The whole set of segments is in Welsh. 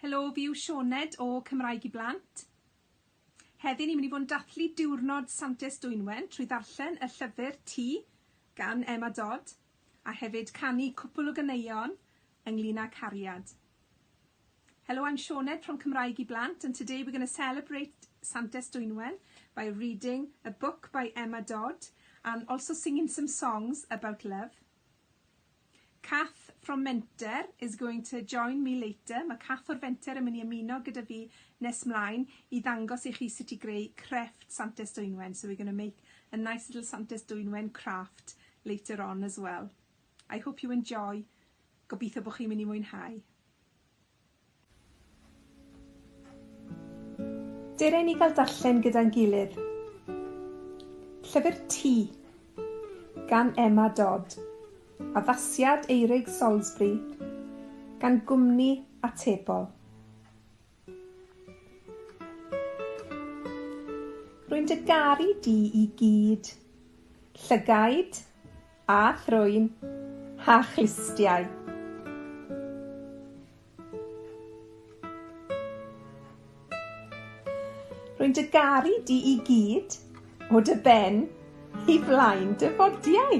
Helo, fi yw Sioned o Cymraeg i Blant. Heddi ni'n mynd i fod yn dathlu diwrnod Santes Dwynwen trwy ddarllen y llyfr Ti gan Emma Dodd a hefyd canu cwpl o ganeuon ynglyn â cariad. Hello I'm Sioned from Cymraeg i Blant and today we're going to celebrate Santes Dwynwen by reading a book by Emma Dodd and also singing some songs about love. Kath from Menter is going to join me later. Mae Kath o'r Fenter yn mynd i ymuno gyda fi nes mlaen i ddangos i chi sut i greu crefft Santes Dwynwen. So we're going to make a nice little Santes Dwynwen craft later on as well. I hope you enjoy. Gobeithio bod chi'n mynd i mwynhau. Dere i ni gael darllen gyda'n gilydd. Llyfr Ti gan Emma Dodd. Addasiad Eirig Salisbury gan Gwmni Atebol. Rwy'n dy garu di i gyd. Llygaid, a thrwyn, a chlustiau. Rwy'n dy garu di i gyd, o dy ben i flaen dy fodiau.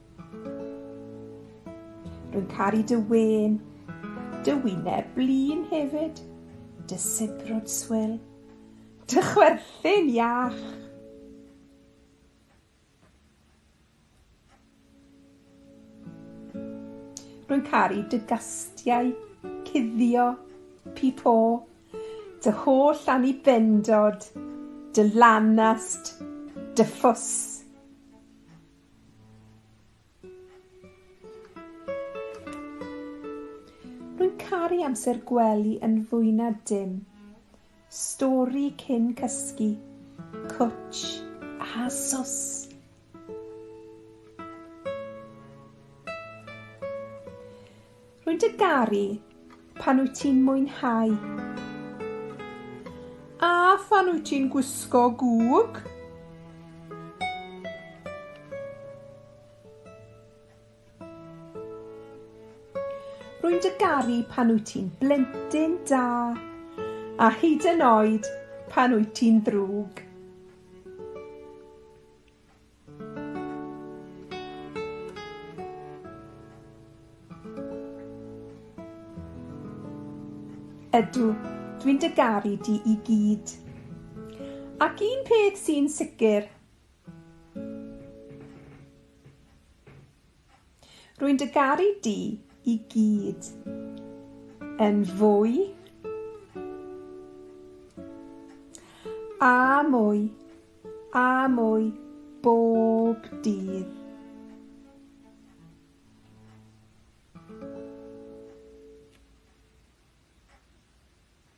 Rwy'n caru dy wên, dy wyneb blin hefyd, dy sibrwd swil, dy chwerthin iach. Rwy'n caru dy gastiau cuddio, pipo, dy holl annibyndod, dy lanast, dy ffws. Rwy'n caru amser gwely yn fwy na dim. Stori cyn cysgu, cwtsh a sos. Rwy'n dy garu pan wyt ti'n mwynhau. A phan wyt ti'n gwisgo gwg. Rwy'n dy garu pan wyt ti'n blentyn da, a hyd yn oed pan wyt ti'n ddrwg. Ydw, dwi'n dy garu di i gyd. Ac un peth sy'n sicr, Rwy'n dy garu di i gyd. Yn fwy a mwy a mwy bob dydd.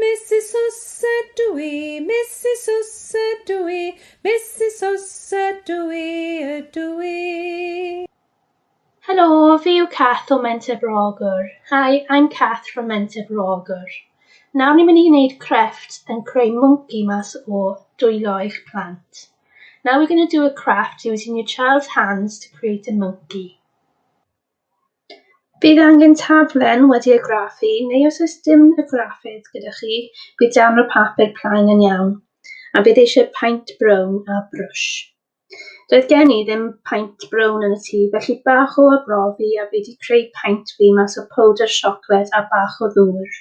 Misus Oes ydw i, Misus Oes ydw i, Misus Oes ydw i, ydw i. Helo, fi yw Cath o Menter Bro-ogwr. Hi, I'm Cath from Menter Bro-ogwr. Nawr ni'n mynd i wneud crefft yn creu mwnci mas o dwylo eich plant. Now we're going to do a craft using your child's hands to create a monkey. Bydd angen taflen wedi ei graffu neu os oes dim y graffydd gyda chi, bydd darn o papur plaen yn iawn, a bydd eisiau paent brown a brwsh. Doedd gen i ddim paent brown yn y tŷ felly bach o arbrofi a fi 'di creu paent fi mas o powdr siocled a bach o ddŵr.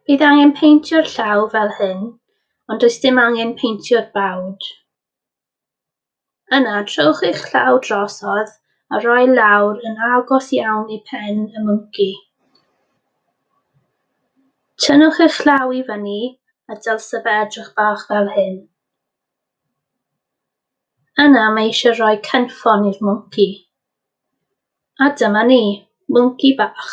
Bydd angen peintio'r llaw fel hyn, ond does dim angen peintio'r bawd. Yna, trowch eich llaw drosodd a rhoi lawr yn agos iawn i phen y mwnci. Tynnwch eich llaw i fyny a dylse fe edrych bach fel hyn. Yna mae eisiau rhoi cynffon i'r mwnci. A dyma ni, mwnci bach.